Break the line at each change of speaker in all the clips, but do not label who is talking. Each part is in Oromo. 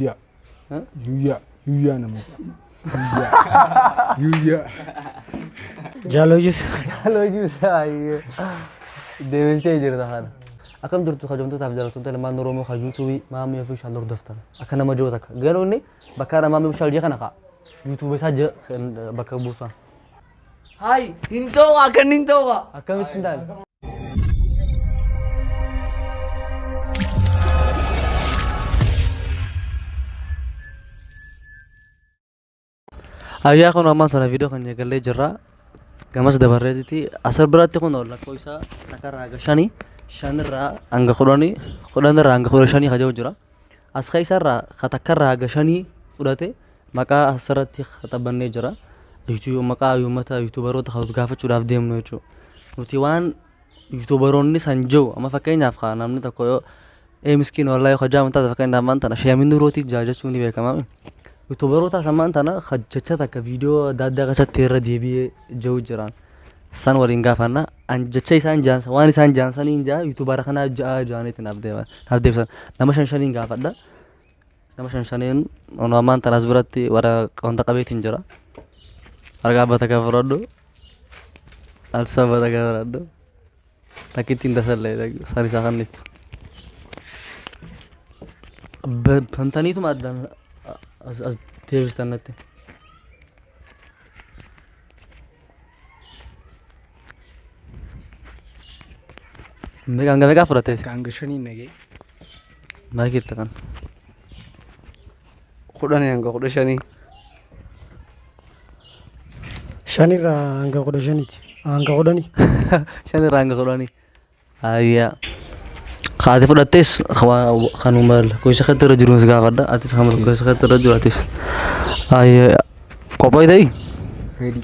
Yuuyyaa.
Yuuyyaa. Yuuyyaa
namoota. Yuuyyaa. Yuuyyaa.
Jaalojis. Jaalojis
ayyee. Deebistee jirta kana. Akkam jirtu kabajamtootaaf jaalattoota ilmaan Oromoo kan yuutuubii maamii fi shaal hordoftan. Akka nama jiru takka. Garuu inni bakka maamii fi shaal jee kana kaa. Yuutuubii isaa bakka buusaa. Hayi
hin ta'u akka inni hin ta'u. Akkamitti hin taane?
Ayyaa kun ammaan sana viidiyoo kan eegallee jirra. Gamas dabarreetitti asir biratti kun lakkoofsa takkarraa hanga shanii shanirraa hanga kudhanii kudhanirraa hanga kudha shanii kan jiru jira. As keessarraa ka takkarraa hanga shanii fudhate Maqaa asirratti khaxabannee jira. Yuutu- Maqaa uummata yuutuubaroota kan nuti gaafachuudhaaf deemnu jechuudha. Nuti waan yuutuubaroonni san jiru amma fakkeenyaaf haa namni tokko yoo ee miskiin wallahi yoo hajaamu taate fakkeenyaaf ammaan tana sheemin nuurootii jaa jechuun ni beekama. Yuutuubaroota ammaan tana kan jecha takka viidiyoo adda addaa keessatti irra deebi'ee jiru jiraan. San waliin gaafanna. An jecha isaan jaansa waan isaan jaansaniin jaa yuutuubara kanaa ja'a jaaniitti naaf deeman naaf deebisan. Nama shan shaniin gaafadha. Nama shan shaniin onoo ammaan tanaas biratti warra wanta qabeetiin jira. Argaa abba takka fudhadhu. Alsa abba takka fudhadhu. Takkittiin tasallee isaan isaa kanniif. Bantaniituma addaan as deebistan natti. Meeqaan gamee gaa fudhatte? Kan hanga shanii nagee.
Maal
keetta kan? Kudhanii
hanga kudha shanii. Shanirraa hanga kudha shaniiti. Hanga kudhanii. Shan irraa
hanga kudhanii. Ayyaa. Kaati fudhattes kanuma lakkoofsa keetti irra jiruun si gaafadha. Atis kan lakkoofsa keetti irra jiru atis. Ayyaa. Qophooy ta'ii? Ready.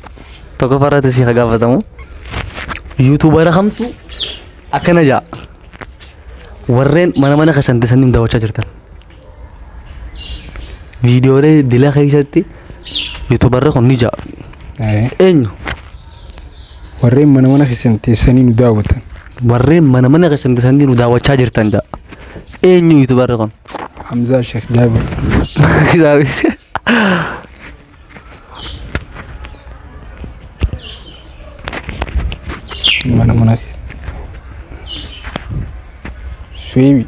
Tokko farratti
si haa gaafatamu. Yuutuubara kamtu akkana ja'a. Warreen mana mana keessan teessanii daawwachaa jirtan. Viidiyoolee dila keessatti yuutubarri kun ni ja'a. Ee, Eenyu?
Warreen mana mana keessan teessanii nu daawwatan. Warreen mana
mana keessan teessanii nu daawwachaa jirtan ja'a. Eenyu yuutubarri kun? Hamzaa Sheekh
Jaabir. Kitaabni. mana mana Suebi.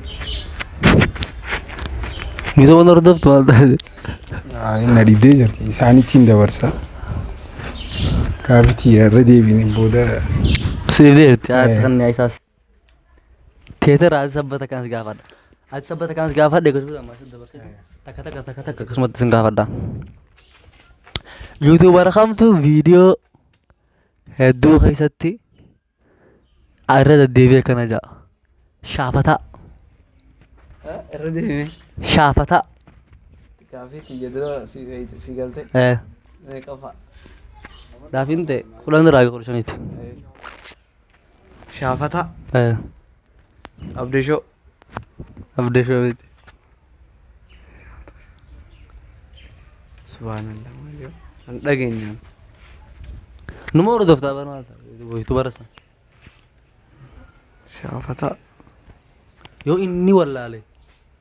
Misa mana hordoftu maal taate?
Na dhibdee jirti. Isaanittiin dabarsa. Kaafitii irra deebiin booda. Siif deebite.
Yaa kan isaas. Teetera ati sabbata kanas gaafadha. Ati sabbata kanas gaafadha egaa duuba ammas dabarsite takka takka takka takka akkasumatti sin gaafadha. Yuutuubara kamtu viidiyoo hedduu keessatti irra deddeebi'ee akkana ja'a. Shaafataa.
Irra deemee. Shaafataa. Gaafii kiyya dura si beeyte- si galte. Eh, Meeqa fa'a?
Gaafiin ta'e kudhan irraa kudha shaniiti. Eh,
Shaafataa. Eh, Abdishoo. Abdii
Shoobiti.
Subhaanallah. Waaqayyo. Kan dhageenyaan.
Numa hordoftaa bara maal ta'a? Hojitu bara sana.
Shaafataa.
Yoo inni wallaale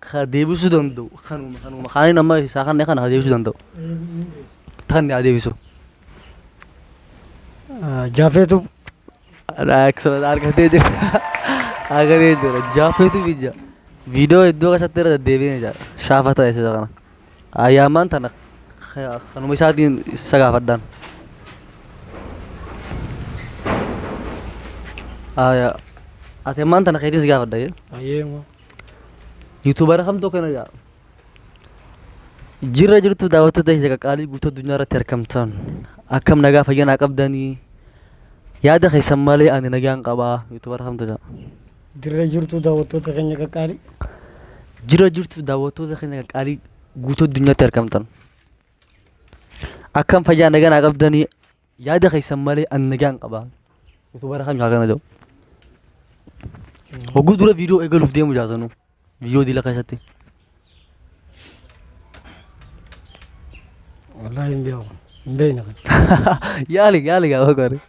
ka deebisuu danda'u kanuma kanuma kaaniin amma isaa kanne kana ka deebisuu danda'u tanni haa deebisu.
Jaafeetu
Excellent argatee jira argatee jira jaafeetu biyya viidiyoo iddoo keessatti irra deddeebiin jira shaafa ta'e isa kana ayyaamaan tana ka- kanuma isaatiin isa gaafadhaan. Aya ati ammaan tana keetiin si gaafadha jee. Ayeema. Yuutuubara kamtu akkana jedha. Jirra jirtu daawwattoota keenya qaqqaalii guutuu addunyaa irratti argamtan akkam nagaa fayyaa naa qabdanii yaada keessan malee ani nagaan qabaa yuutuubara kamtu jedha. Dirree jirtu
daawwattoota keenya qaqqaalii. Jirra
jirtu daawwattoota keenya qaqqaalii guutuu addunyaatti argamtan akkam fayyaa nagaa naa qabdanii Yaada keessan malee an nagaan qaba. Utuu bara kamii akkana jedhu. Hogguu dura viidiyoo eegaluuf deemu jaatanu. Viidiyoo dila keessatti.
Wallaahi hin beeku. Hin beekne kan. Yaali
yaali gaafa gaari.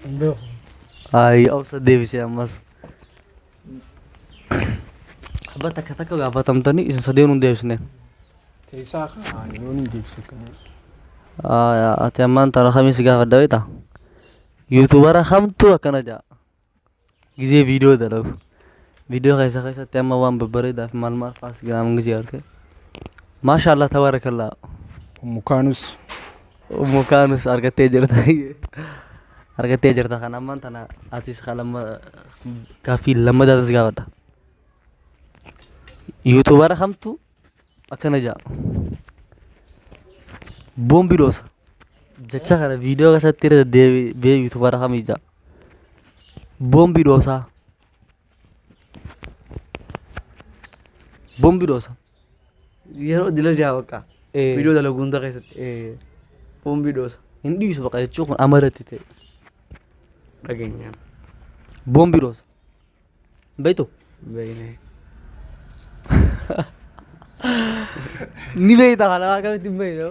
Hin beeku. Ayi
obsa deebisee ammas. Abba takka takka gaafatamtanii isin sadeen hin deebisne. Teessaa
kaa yoo ni deebisa kana. Aayaa
ati ammaan tana kamiin si gaafadha beekta? Yuutuubara kamtu akkana ja'a. Gizee viidiyoo dalagu. Viidiyoo keessa keessatti amma waan babbareedaaf maal maal faas gaaman gizee arge. Maashaallah tabaarakallaa. Ummu kaanus Ummu kaanus argattee jirta argattee jirta kan ammaan tana atis kan lamma gaaffii lammataa tas gaafadha. Yuutuubara kamtu akkana ja'a. Boombi dhoosa. Jecha kana viidiyoo keessatti irra deebi'ee yuutuubara kamii ja'a. Boombi dhoosaa. Boombi dhoosa. Yeroo
dila jaha bakka. Eh. Viidiyoo dalagu hunda keessatti. Eh, Boombii dhoosa. Hin dhiisu baqa jechuu
kun amarratti ta'e.
Dhageenyaan.
Boombii dhoosa. Hin beektu? Beeknee. Ni beekta kana akkamitti hin beektu?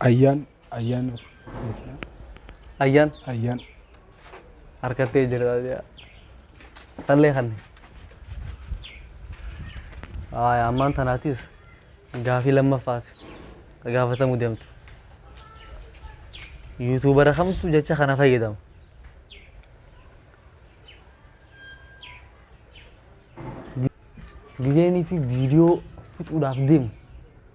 Ayyaan ayyaan
Ayyaan ayyaan harkattee jirta jedha. Sallee kanne. Haaya ammaan tanaatis gaafii lammaffaati gaafatamuu deemtu. Yuutuubara kamtu jecha kana fayyadama. Gizeenii fi viidiyoo fixuudhaaf deemu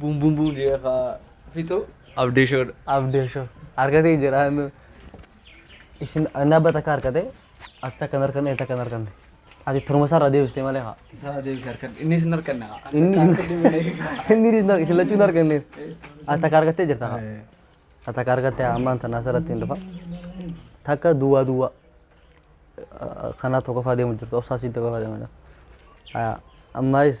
Buum buum buum
jedhee kaa fixu. Abdee shoodha. Abdee shoo.
Harkatee jiraan. Isin annaa bata akka harkate atti akkan harkanne itti akkan harkanne. Ati turuma isaarraa deebistee malee haa. Isaa deebisi harkan. Innis
hin harkanne kaa. Inni
inni inni isin lachuu hin harkanne. Ati akka harkattee jirta haa. Ati akka harkattee ammaan tanaa asirratti hin dhufa. Takka duwwaa duwwaa. Kanaa tokkoffaa deemu jirtu obsaa siin tokkoffaa deemu jirtu. Ammaayis.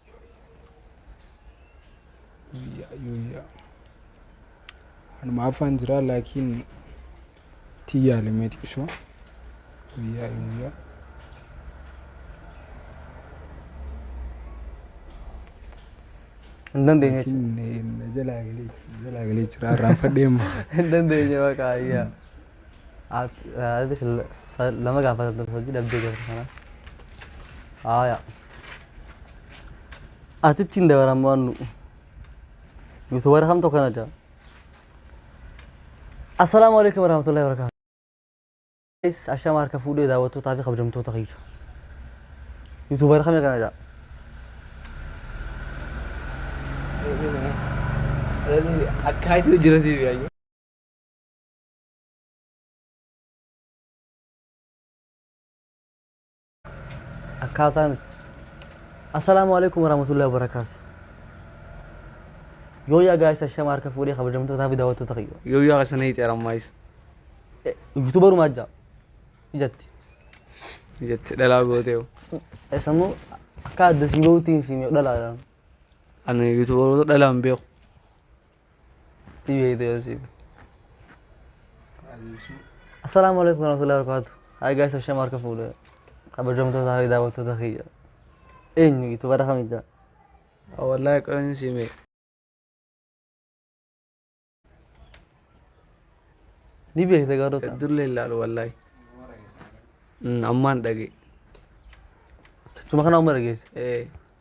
Anuma afaan jira laakiin tii yaalamee xiqisoo guyyaa guyyaa.
Hin dandeenye jechuudha. Jalaa
galee
jalaa
galee jira
irraanfadhee
immoo. Hin
dandeenye
baqa ayyaa. Ati
lama gaafatan ture hojii dhabdee jirta kana. Haaya. Atitti hin dabaran waan nu'u. Yuutuubara kamtu akkana jaa. Assalaamu alaikum warahmatullahi wabarakatuh. Guys, Ashama harka fuudhee daawwattootaa fi kabajamtoota kiyya. Yuutuubara kamii akkana jaa.
Akkaataa jiratiif yaayyu.
akkaataa nuti assalaamu alaikum warahmatullahi wabarakaatu yoo yaa gaayisa shama harka fuudhee kabajamtootaa fi daawwattoota kiyya Yoo yaa isa na hiixeera
ammaayis.
yuutuubarumaa jaa ijatti
Jette dhalaa gootee. eessammoo
akka adda si bahuutiin si miidhalaadhaan Ani
yuutuubaroota dhalaan beeku. Dhibee
ta'e osii. Assalaamu alaikum warahmatullahi wabarakatuh. Hi guys, Hashem harka fuudhe. Kabajamtoota fi daawwattoota kiyya. Eenyu gitu bara kamija. Wallahi
qoyin sime.
Ni beekte garuu tan. Dulle ilaalu wallahi.
Ammaan dhage.
Tuma kana umma dhageesse. Eh.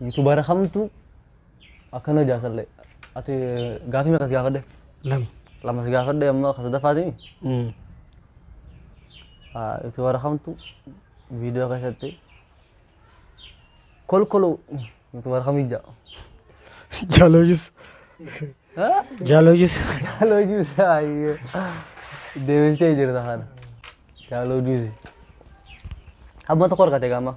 Yuutuubaara kamtu akkana hojaa sallee. Ati gaafii meeqa si gaafadhe? Lama. Lama si
gaafadhe
amma akka sadaffaati. Mm. Yuutuubaara kamtu viidiyoo keessatti kolkoluu yuutuubaara kamii ja'a?
Jaalojus. Jaalojus. Jaaloo
juusi ayyee. Deebistee jirta kana. Jaaloo juusi. Hamma tokko argate gaama.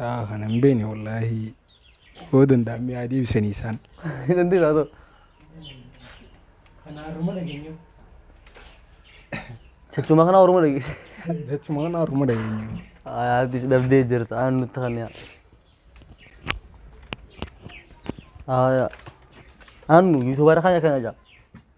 Yaa kana hin beekne wallaahi yoo danda'an mi'aa deebisanii isaan. Dandeessaa
haa ta'u. Kana haruma dhageenyu. Jechuuma kana
Oromoo dhageesse. Jechuuma kana haruma dhageenyu. Atis dhabdee
jirta aan nutti kan yaa. Aayaa. Aannu yuutuubaara kan akkana jaa.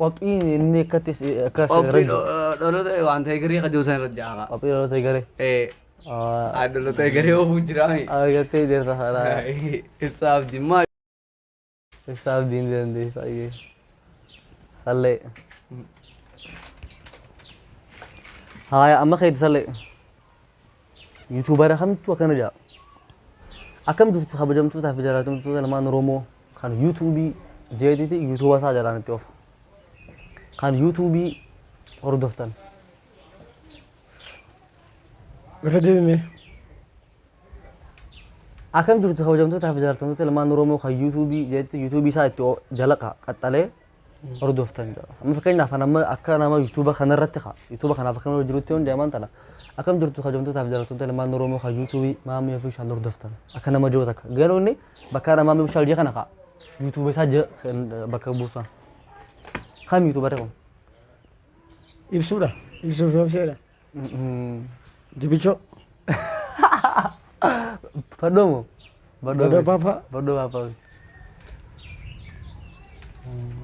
Qophiin inni akkatti akka Qophiin seerajju.
dhaloota waan ta'e garee qajoo san irra jaaha. Qophii dhaloota eegale. Eh,
ah,
dhaloota garee oofuu jiraami. Argattee jirta haadha.
Ibsaa abdimmaa.
Ibsaa
abdiin dandeessa ayyee. Sallee. Haaya amma keeti sallee. Yuutuubara kamittuu akkana jedha. Akkam jirtu kabajamtootaa fi jaallatamtoota ilmaan Oromoo kan yuutuubii jeetiti yuutuuba isaa jalaan itti ofa. Kan yuutuubii hordoftan.
Irra deebimee.
Akkam jirtu kabajamtootaa fi jaallatamtoota ilmaan Oromoo kan yuutuubii jeetiti yuutuubii isaa itti o- jalaqa qaxxalee hordoftan jira. Amma fakkeenyaaf kan amma akka nama yuutuuba kanarratti kaa yuutuuba kanaaf akka nama jirutti hundi amaan tana akkam jirtu kabajamtootaaf jaalattoota ilmaan Oromoo kan yuutuubii maamii ofii shaal hordoftan akka nama jiru takka garuu inni bakka nama maamii shaal jee kana kaa yuutuuba isaa jee bakka buusaa kam yuutuubarri kun ibsuudha
ibsuuf yoo fedha Jibichoo.
Badhoo moo? Badhoo
Papa. Badhoo Papa.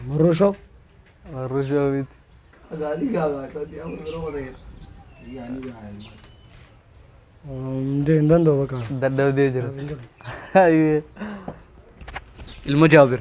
Marroshoo. Marroshoo miti. Gaalii gaabaa isaati amma biroo
wata jedha. Yaanii
gahaa ilmaa.
Hundee hin danda'u bakka. Dadhabdee jira.
Ilma Jaabir.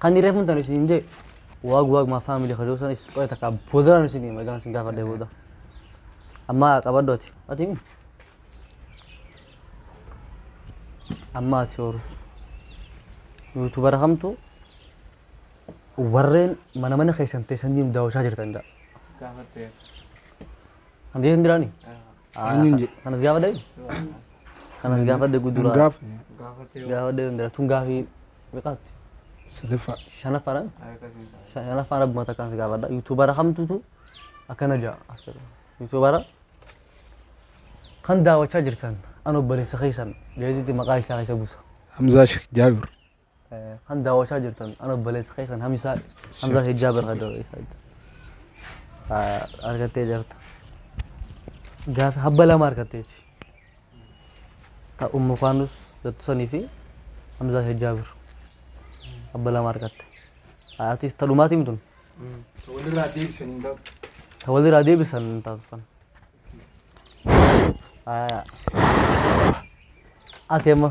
Kan reefu hin taane isin jee waag waag maa faamilii kadhuu sanis qoya takka boodaan isin hima egaan isin gaafadhee booda. Amma qabadhu ati. Ati himi. Amma ati horu. Yuutubara kamtu warreen mana mana keessan teessanii daawwachaa jirtan dha. Gaafattee. Handeetan diraanii? Eenyuun jedhe? Kanas gaafadha eenyu? Kanas gaafadha gudura. Gaaf Gaafadha eenyu dara. Tun gaafii meeqaatti? sadaffaa.
Shanaffaadha.
Shanaffaan abbuma takkaan si gaafadha. Yuutuubara kamtutu akkana ja'a as jedha. Yuutuubara kan daawwachaa jirtan an obboleessa keessan jeetitti maqaa isaa keessa buusa. Hamzaa Sheekh
Jaabir. Kan
daawwachaa jirtan an obboleessa keessan Hamzaa Hamzaa Hijjaa Bargadoo isaa argattee jirta. Gaafa habba lama argatteeti. Ta ummu kaanus jettu sanii fi Hamzaa Hijjaa bir habba lama argatte. Atis ta dhumaatii mitun Walirraa deebisan hin taatu. ta walirraa deebisan hin taatu san. Ati amma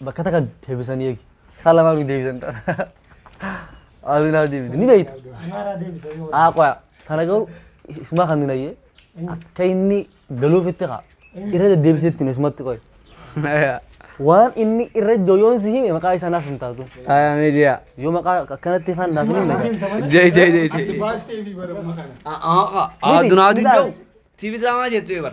Bakka takka deebisanii eegi. Isaa lamaa nu deebisan ta'a. Aduun haa deebite. Ni beekta. Amaaraa deebisa
yoo Haa qoya. Tana garuu
isumaa kan hin hayyee. Akka inni galuufitti kaa. Irra deddeebisetti hime isumatti qoy. Waan inni irra iddoo yoon si hime maqaa isaa naaf hin taatu. Ayaa media.
Yoo maqaa
akkanatti ifaan naaf hin himne. Jai jai jai jai. Ati baastee
fi
bara maqaan. Aduun
haa deebi'u. TV drama jettu ebar.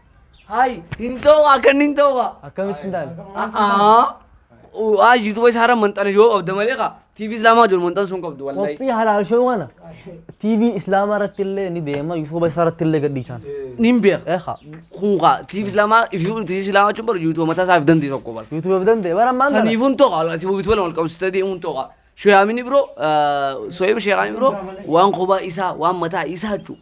Hayi
hin ta'u akka inni hin ta'u kaa. Akkamitti hin taane?
A'aa. Haa
yuutuuba isaa irra manxana yoo qabda malee kaa. TV islaamaa jiru manxan sun qabdu wallahi. Qophii halaal shoo kana
TV islaamaa irratti illee ni deema yuutuuba isaa irratti illee gadhiisaan. Nin beeka. Eekaa.
Kun
kaa TV
islaamaa ifii TV islaamaa jechuun bara yuutuuba mataa isaaf dandii tokko bara. Yuutuuba of danda'e bara ammaan
kana. Saniifun tokko alati yuutuuba
lama qabsitee deemuun tokko. Shoyaamini biroo soyib sheekaani biroo waan kophaa isaa waan mataa isaa jechuudha.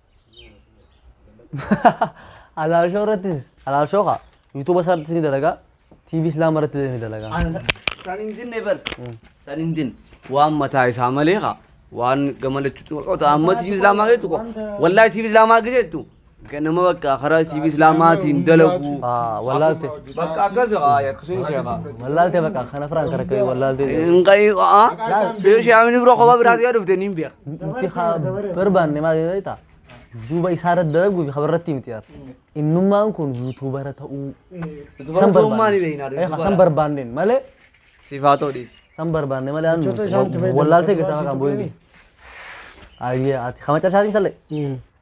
Alaalshoo irrattis alaalshoo kaa yuutuuba isaarrattis ni dalagaa TV islaama irratti illee ni dalagaa. San hin
dinne bar. San hin dinne. Waan mataa isaa malee kaa. Waan gamalachuutu qoqota. Amma TV islaamaa keessattu qo. Wallaahi TV islaamaa keessattu. Ganama bakka karaa TV islaamaatiin dalaguu. Ah, wallaalte.
Bakka akkas haa
akkasuun sheekaa. Wallaaltee bakka kana
firaan kan akka wallaaltee. Hin qayyii qa'a.
Seeru sheekamni bira kophaa biraatti yoo dhufte niin beeka. Nuti haa
barbaanne maal jedhee ta'a. Duuba isaa irratti dalaguu fi habarratti miti yaar. Innummaan kun yuutuubara ta'uu. San Barummaa
ni beekna. barbaanne. Eh, San barbaanneen
malee Sifaa ta'uu
dhiisi. san barbaanne malee aan
Jechoota isaanitti fayyadamu. wallaaltee gata maqaan boo'inni. Ayyee ati kama cabsaatiin talle.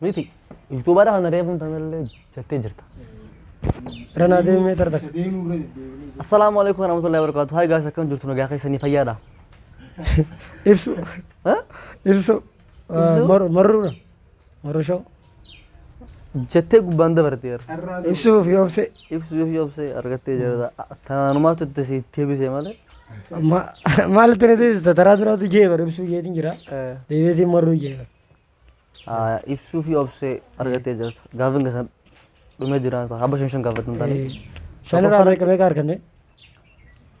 Miti.
Yuutuubara kana reefuun tanallee jettee jirta.
Ranaa deemee tarta. Deemuu irra deddeebiin. Assalaamu
alaikum warahmatullahi wabarakatuh. Hayi gaas akkam jirtu nagaa keessanii fayyaadha.
Ibsu. Ha?
Ibsu. Ibsu?
Maru marruudha. Maru shoo.
Jettee gubbaan dabarte yeroo. Carraa ta'e. Ibsuuf yoo obse.
Ibsuuf yoo obse
argattee jirta. Tanaanumaatu itti si deebisee malee. Ma-
Maalitti na deebista taraa duraatu jee bara ibsuu jeetiin jira. Eh, Deebiitiin marruu jee bara. Ah,
Ibsuu fi obsee argattee jirta. Gaafin keessan dhumee jira. Haba shan shan gaafatan taane. Shan irraa meeqa
meeqa arganne?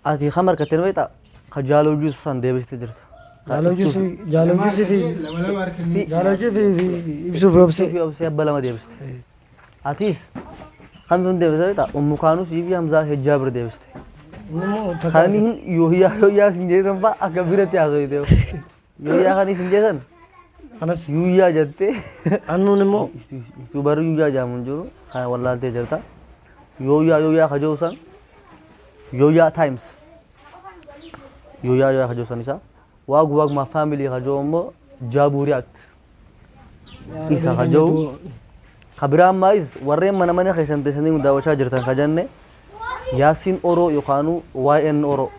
Ati kam argattee ni beektaa? Ka jaaloo juusu san deebistee jirta. Jaaloo juusu
jaaloo juusu fi lama lama argannee jaaloo juusu fi ibsuu fi Ibsuu obsee. fi obsee abba lama deebiste.
Atis kam sun deebistee beektaa? Ummu kaanuu sii fi hamzaa fi jaabir deebiste. Inni immoo takka- Kan hin yooyyaa yooyyaa sin jedhan fa'a akka biratti haasofte. Yuuyyaa kan isin jedhan Anas
yuuyyaa jettee
annuun immoo
yuutuubarri
yuuyyaa jedhamu hin jiru kan wallaaltee jirta. Yooyyaa yooyyaa kajoo san yooyyaa times yooyyaa yooyyaa kajoo san isaa waag waag maa faamilii kajoo immoo jaabuu react isa ka ja'u ka biraa ammaayis warreen mana mana keessan teessanii nu daawwachaa jirtan ka jenne yaasiin oroo yookaanuu waa'een oroo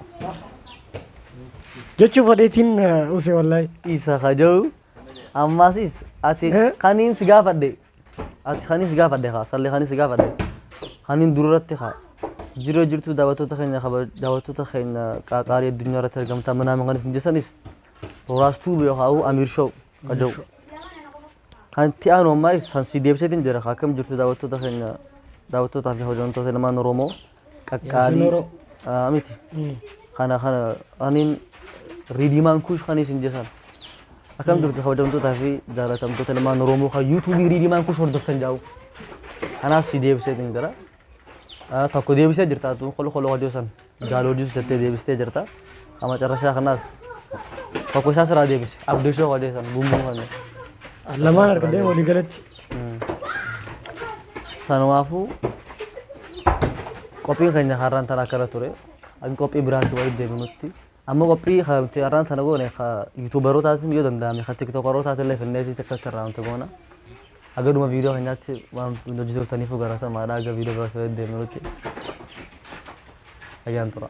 jechuuf fadheetiin use wallahi isa ka ja'u
ammaasis ati Eh? kaniin si gaafadhe ati kaniin si gaafadhe kaa sallee kaniin si gaafadhe kaniin duratti kaa jiruu jirtuu daawwattoota keenya kaba daawwattoota keenya qaaqaarii addunyaa irratti argamtaa manaa maqaan isin jeessanis Roraas tuuba yookaan ammoo Amiir Show ka jedhu. Kan itti aanu ammaa ibsu san si deebiseetiin jira ka akkam jirtu daawwattoota keenya daawwattootaa fi hojjettoota ilmaan Oromoo qaqqaalii Yaasiin Oro. Ah, miti. Kana kana aniin riidiimaan kuush kan isin jesan. Akkam jirtu hojjettoota fi jaallatamtoota ilmaan Oromoo kan yuutuubii riidiimaan kuush hordoftan jaa'u. Kanaaf si deebiseetiin jira. Ah, Tokko deebisee jirta atu kolkoloo hojii san. Daalooduus jettee deebistee jirta. Amma carrashaa kanaas tokko isaa siraa deebise. Abdishoo wadee san gummuu kan. Lamaan
argadhee walii galatti.
Sanumaafuu qophiin keenya har'aan tana akkana ture. Akka qophii biraatti walitti deebinutti. Amma qophii kan nuti har'aan tana goone kan yuutuubarootaatiin yoo danda'ame kan tiktookarootaatiin illee finneetii tiktookarraa nuti goona. Haga dhuma viidiyoo keenyaatti waan hojii turtaniifuu galatoomaa dha. Haga viidiyoo biraatti walitti deebinutti nagaan tura.